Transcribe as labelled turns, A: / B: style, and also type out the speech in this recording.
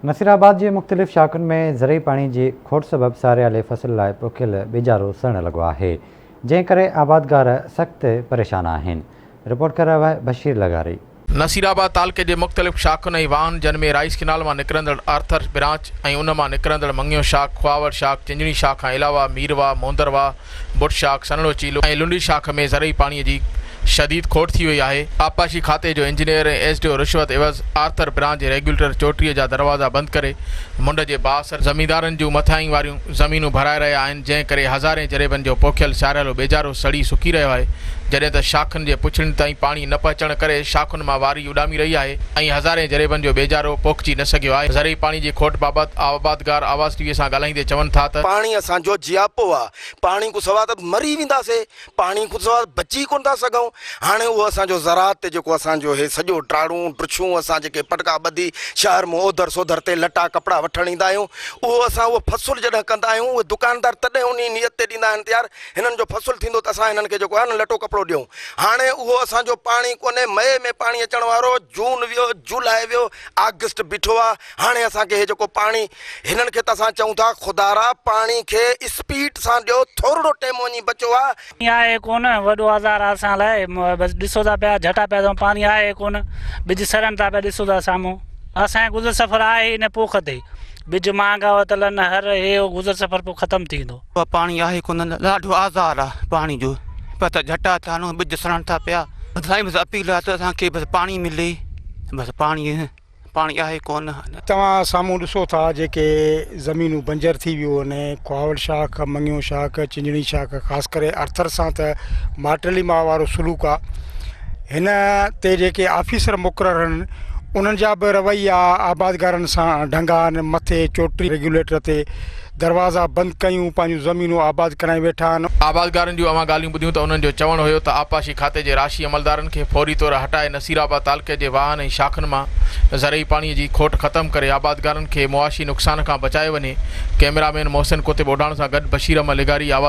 A: نصيرآباد جي مختلف شاخن ۾ زرعي پاڻي جي کوٽ سبب ساريالي فصل لاء پوکيل ٻيجارو سڙڻ لڳو آهي، جنهن ڪري آبادگار سخت پريشان آهن، رپورٽ ڪري رهيو آهي بشير لغاري. نصيرآباد تعلقي
B: جي مختلف شاخن ۽ واهن جن ۾ رائيس ڪينال مان نڪرندڙ آرٿر برانچ ۽ ان مان نڪرندڙ مڱيو شاخ، کهاوڙ شاخ، چنجڻي شاخ کان علاوه ميرواهه، مهندر واهه، بٽ شاخ، سنهڙو چيلو ۽ لنڊي شاخ ۾ زرعي پاڻي جي شديد کوٽ ٿي وئي آهي، آبپاشي کاتي جو انجنيئر ۽ ايس ڊي او رشوت عيوض آرٿر برانچ جي ريگيوليٽر چوٽيء جا دروازا بند ڪري منڍ جي بااثر زميندارن جون مٿاهين واريون زمينون ڀرائي رهيا آهن جنهن ڪري هزارين جريبن جو پوکيل سياريلو ٻيجارو سڙي سڪي رهيو آهي جڏهن ته شاخن جي پڇڙين تائين پاڻي نه پهچڻ ڪري شاخن مان واري ڪري اڏامي رهي آهي ۽ هزارين جريبن جو ٻيجارو پوکجي نه سگهيو آهي، زرعي پاڻي جي کوٽ بابت آبادگار آواز ٽي وي سان ڳالهائيندي چون ٿا ته. پاڻي اسان جو جياپو
C: آ، پاڻي کون سوا ته مري وينداسي، پاڻي کون سوا بچي ڪونه ٿا سگهون، هاڻي اهو اسان جو زراعت تي جيڪو اسان جو هي سڄو ٽاڙون ڊڇون اسان جيڪي پٽڪا ٻڌي شهر مون اوڌر سوڌر تي لٽا ڪپڙا وٺڻ ايندا آهيون اهو اسان اهو فصل جڏهن ڪندا آهيون اهي دڪاندار تڏهن انهي نيت تي ڏيندا آهن ته يار هنن جو فصل ٿيندو ته اسان هنن کي جيڪو آهي نه لٽو ڪپڙو ڏيون. هاڻي اهو اسان جو پاڻي ڪونهي، مئي ۾ پاڻي اچڻ وارو هو، جون ويو، جولاء ويو، آگسٽ بيٺو آ، هاڻي اسان کي هي جيڪو پاڻي، هنن کي ته اسان چئون ٿا خدارا پاڻي کي اسپيڊ سان ڏيو، ٿورڙو ٽيم وڃي بچو آ. پاڻي آهي ڪونه، وڏو
D: آزار آ اسان لاء، بس ڏسو ٿا پيا جهٽا پيا ٿيون، پاڻي آهي ڪونه، ٻج سڙن ٿا پيا ڏسو ٿا سامهون، اسان کي گذر سفر آهي ئي نه پوک تي، ٻج مهانگا ورتل آهن، هر هي هو گذر سفر پوء ختم ٿي ويندو. اهو پاڻي آهي ڪونه نه
E: ڏاڍو آزار آ پاڻي جو ٻه ته جهٽا ٿا هڻون ٻج سڙڻ ٿا پيا سائين بس اپيل آ ته اسان کي بس پاڻي ملي بس پاڻي پاڻي آهي ڪونه نه. توهان سامهون
F: ڏسو ٿا جيڪي زمينون بنجر ٿي ويو آهن ڪهاوڙ شاخ، مڱيو شاخ، چنجڻي شاخ خاص ڪري ارٿر سان ته مارٽلي ماء وارو سلوڪ آ هن تي جيڪي آفيسر مقرر آهن انهن جا به رويا آبادگارن سان ڍنگا آهن مٿي چوٽي ريگيوليٽر تي دروازا بند ڪيون، پنهنجون زمينون آباد ڪرائي ويٺا آهن. آبادگارن جون اوهان ڳالهيون
B: ٻڌيون ته انهن جو چوڻ هيو ته آبپاشي کاتي جي راشي عملدارن کي فوري طور هٽائي نصيرآباد تعلقي جي واهن ۽ شاخن مان زرعي پاڻي جي کوٽ ختم ڪري آبادگارن کي معاشي نقصان کان بچايو وڃي ڪئميرا مين محسن ڪوتي ٻوڍاڻ سان گڏ بشير احمد لغاري